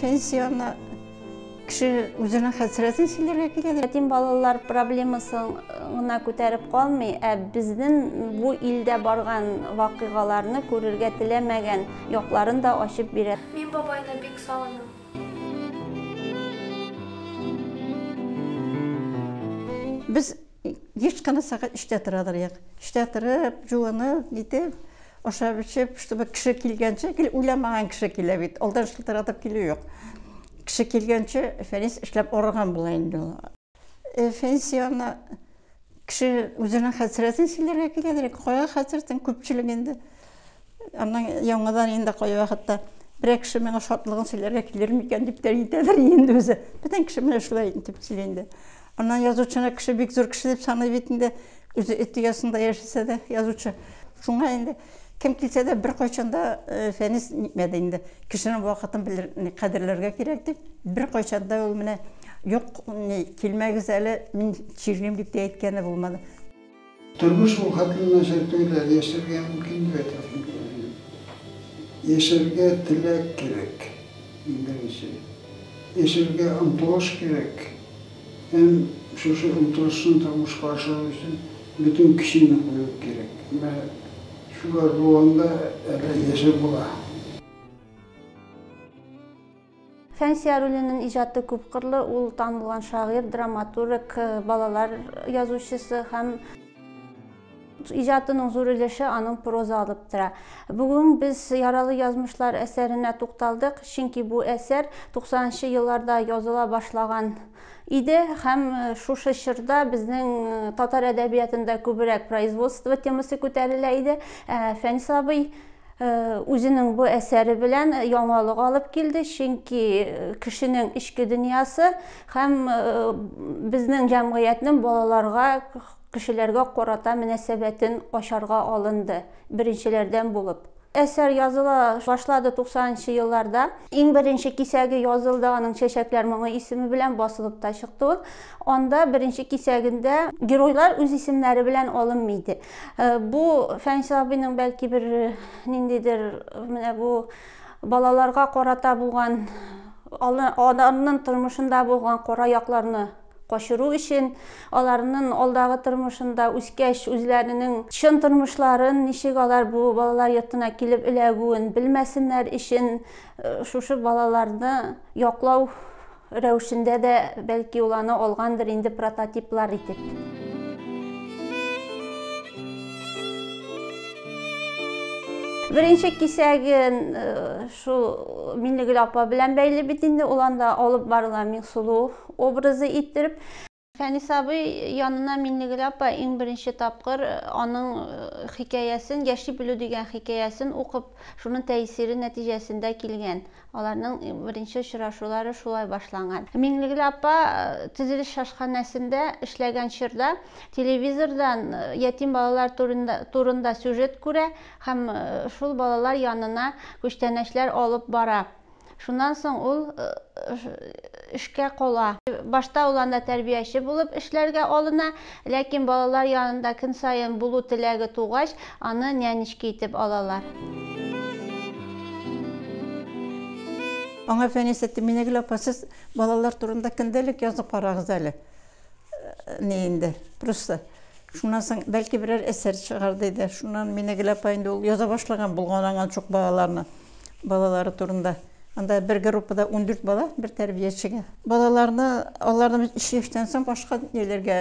пенсияны кеше үзенең хәсрәтен сөйләргә киләдер ятим балалар проблемасын гына күтәреп калмый ә безнең бу илдә барган вакыйгаларны күрергә теләмәгән якларын да ачып бирә мин бабайны бик сагынам Без еш кына сәгать өчтә тора торыйк. Өчтә торып, җуынып, нитеп, ашап эчеп, чтобы кеше килгәнче, гел уйламаган кеше килә бит, алдан шылтыратып килү юк. Кеше килгәнче Фәнис эшләп арыган була инде ул. Фенсияне кеше үзенең хәсрәтен сөйләргә киләдер, кая хәсрәтен күпчелек инде. Аннан яңадан инде кая вакытта берәр кеше миңа шатлыгын сөйләргә килер микән дип тә әйтәдер инде үзе. Бөтен кеше менә шулай итеп сөйли инде. Аннан язучыны кеше бик зур кеше дип саный бит инде. Үзе эт оясында яшәсә дә язучы. Шуңа инде Кем килсә дә беркайчан да Фәнис нитмәде инде. Кешенең вакытын белер, кадерләргә кирәк дип, беркайчан да ул менә юк, килмәгез әле, мин чирлим дип тә әйткәне булмады. Тормыш ул хәтле начар түгел әле, яшәргә мөмкин дип әйтәсең килә. Яшәргә теләк кирәк, иң беренче. Яшәргә омтылыш кирәк. Һәм шушы омтылышны тормышка ашыру өчен бөтен көчеңне кую кирәк. Менә шулар булганда әле яшәп була. Фәнсия Рулинең иҗаты күпкырлы, ул танылган шагыйрь, драматург, балалар язучысы һәм. Иҗатының зур өлеше аның проза алып тора. Бүген без Яралы язмышлар әсәренә тукталдык, чөнки бу әсәр туксанынчы елларда языла башлаган иде һәм шушы чорда безнең татар әдәбиятында күбрәк производство темасы күтәрелә иде. Ә Фәнис абый үзенең бу әсәре белән яңалык алып килде, чөнки кешенең эчке дөньясы һәм безнең җәмгыятьнең балаларга кешеләргә карата мөнәсәбәтен ачарга алынды, беренчеләрдән булып. Әсәр языла башлады 90 нчы елларда. Иң беренче кисәге язылды, аның Чәчәкләр моңы исеме белән басылып та чыкты ул. Анда беренче кисәгендә геройлар үз исемнәре белән алынмый иде. Бу Фәнис абыйның бәлки бер ниндидер менә бу балаларга карата булган, алар, аларның тормышында булган кара якларны качыру өчен, аларнын алдагы тормышында, үскәч, үзләренең чын тормышларын, ничек алар бу балалар йортына килеп эләгүен белмәсеннәр өчен, шушы балаларны яклау рәвешендә дә, бәлки, ул аны алгандыр инде прототиплар итеп. Беренче кисәген шул Миннегөл апа белән бәйле бит инде, ул анда алып барыла Миңсылу образы иттереп. Фәнис абый янына Миннегөл апа иң беренче тапкыр аның хикәясен, Яши белү дигән хикәясен укып, шуның тәэсире нәтиҗәсендә килгән. Аларның беренче очрашулары шулай башланган. Миннегөл апа төзелеш ашханәсендә эшләгән чорда телевизордан ятим балалар турында турында сюжет күрә һәм шул балалар янына күчтәнәчләр алып бара. Шуннан соң ул эшкә кала. Башта ул анда тәрбияче булып эшләргә алына, ләкин балалар янында көн саен булу теләге тугач, аны нянечка итеп алалар. Аңа Фәнис әйтте, Минәгөл апа, сез балалар турында көндәлек язып карагыз әле. Ни инде, просто шуннан соң бәлки берәр әсәр чыгар диде. Шуннан Минегөл апа инде ул яза башлаган булган аңа чук балаларны, балалары турында. Анда бер группада 14 бала, бер тәрбиячегә. Балаларны аларны чиштән соң башка ниләргә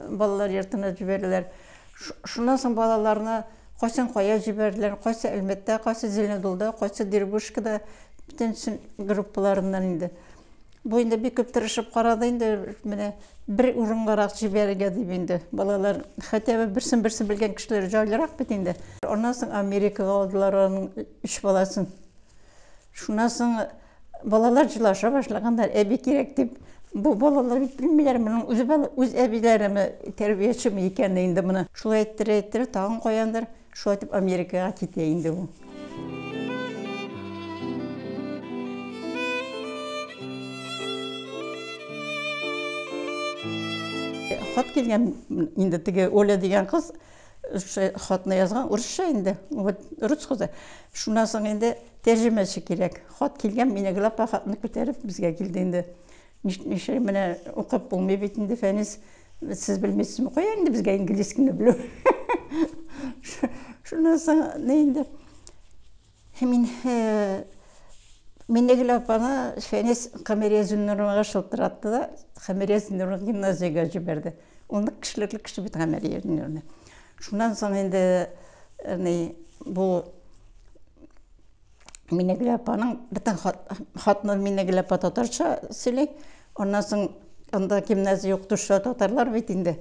балалар йортына җибәрделәр. Шуннан соң балаларны кайсын кая җибәрделәр, кайсы Әлмәттә, кайсы Зеленодолда, кайсы Дербышкада, бөтен группаларыннан инде. Бу инде бик күп тырышып карады инде, менә бер урынгарак җибәрергә дип инде. Балалар хотя бы берсен берсе белгән кешеләр җайлырак бит инде. Аннан соң Америкага алдылар аның өч баласын. Шуннан соң балалар җылаша башлаганнар, әби кирәк дип. Бу балалар бит белмиләр, моның үз үз әбиләреме, тәрбиячеме икәнен инде моны. Шулай әйттерә-әйттерә, тагын каяндыр Шулай итеп Америкага китә инде ул. Хат килгән инде теге Оля дигән кыз хатны язган урысча инде вот рус кызы шуннан соң инде тәрҗемәче кирәк хат килгән мине глапа хатны күтәреп безгә килде инде Нишлим, менә укып булмый бит инде, Фәнис, сез белмисезме, кая инде безгә инглиз кенә белү. Шуннан соң не инде мин Минегөл апаны Фәнис Камирия Зөлнуровага шылтыратты да, Камирия Зөлнурованы гимназиягә җибәрде. Ул нык кешелекле кеше бит Камирия Зөлнуровна. Шуннан соң инде бу Минегөл апаның бөтен хатны Минегөл апа татарча сөйли. Аннан соң анда гимназия юк, төшле татарлар бит инде.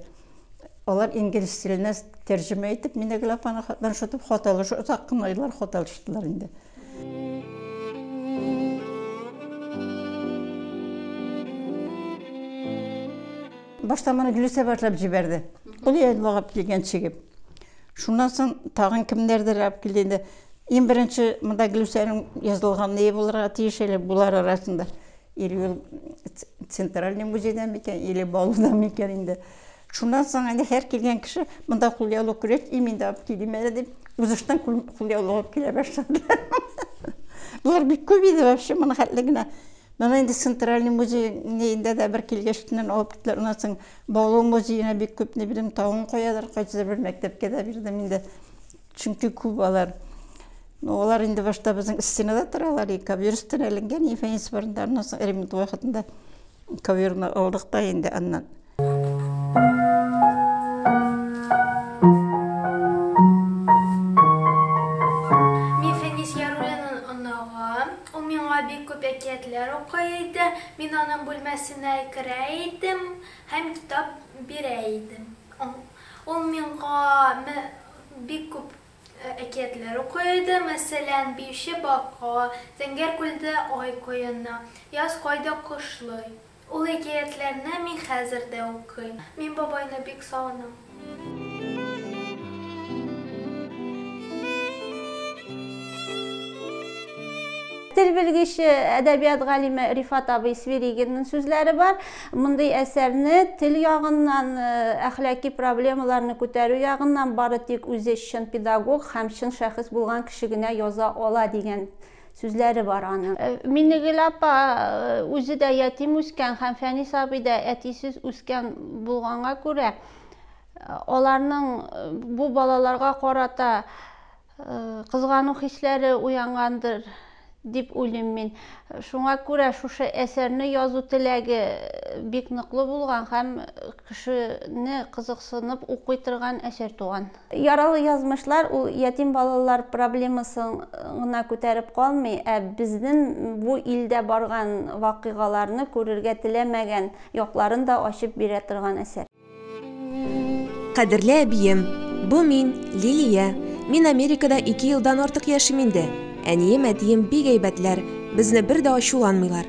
Алар инглиз теленә тәрҗемә итеп Минегөл апаны хаттан шутып хат алыш, озак кына еллар хат алыштылар инде. Башта моны Гөлүсә башлап җибәрде. Ул янлыгып килгән чигеп. Шуннан соң тагын кемнәрдер алып килде инде. Иң беренче монда Глюсәнең язылган ние булырга тиеш әле булар арасында. Или ул центральный музейда микән, или Балуда микән инде. Шуннан соң инде һәр килгән кеше монда кулъяулык күрәч, и мин дә алып килим әле дип, узыштан кулъяулык алып килә башладылар. Болар бик күп иде вообще, моны хәтле генә. Моны инде центральный музей ниендә дә бер килгәчтеннән алып киттеләр. Аннан соң Балу музеена бик күп ни белим, тавын куядыр, кайсыдыр бер мәктәпкә дә бирдем инде. Чөнки күп алар. Ну, алар инде башта безнең стенада торалар, и ковер өстенә эленгән, и фәнис барында, аннан соң ремонт вакытында коверны алдык та инде аннан. Мин Фәнис Яруллинны оныгым. Ул миңа бик күп әкиятләр укый иде. Мин аның бүлмәсенә керә идем һәм китап бирә идем. Ул миңа бик күп әкиятләр укый иде, мәсәлән, Биюче бака, Зәңгәр күлдә ай коена, Яз кайда кошлый. Ул әкиятләрне мин хәзер дә укыйм. Мин бабайны бик сагынам. Тел белгече, әдәбият галиме Рифат абый Свиригинның сүзләре бар. Мондый әсәрне тел ягыннан, э, әхлаки проблемаларны күтәрү ягыннан бары тик үзе чын педагог һәм чын шәхес булган кеше генә яза ала дигән сүзләре бар аның. Минегөл апа үзе дә ятим үскән һәм Фәнис абый да әтисез үскән булганга күрә, аларның бу балаларга карата кызгану хисләре уянгандыр дип уйлыйм мин. Шуңа күрә шушы әсәрне язу теләге бик ныклы булган һәм кешене кызыксынып укый торган әсәр туган. Яралы язмышлар ул ятим балалар проблемасын гына күтәреп калмый, ә безнең бу илдә барган вакыйгаларны күрергә теләмәгән якларын да ачып бирә торган әсәр. Кадерле әбием, бу мин, Лилия. Мин Америкада ике елдан артык яшим инде. Әнием, әтием бик әйбәтләр, безне бер дә ачуланмыйлар.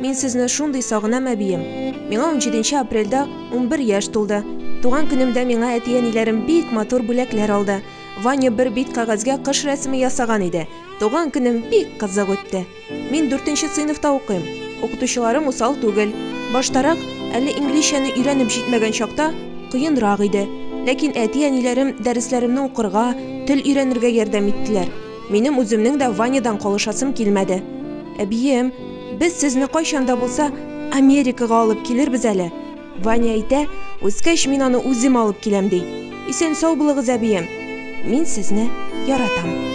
Мин сезне шундый сагынам, әбием. Миңа унҗиденче апрельдә унбер яшь тулды. Туган көнемдә миңа әти-әниләрем бик матур бүләкләр алды. Ваня бер бит кәгазьгә кыш рәсеме ясаган иде. Туган көнем бик кызык үтте. Мин дүртенче сыйныфта укыйм. Укытучыларым усал түгел. Баштарак, әле инглизчәне өйрәнеп җитмәгән чакта, кыенрак иде. Ләкин әти-әниләрем дәресләремне укырга, тел өйрәнергә ярдәм иттеләр. Минем үземнең дә Ванядан калышасым килмәде. Әбием, без сезне кайчан да булса Америкага алып килербез әле. Ваня әйтә, үскәч мин аны үзем алып киләм, ди. Исән-сау булыгыз, әбием. Мин сезне яратам.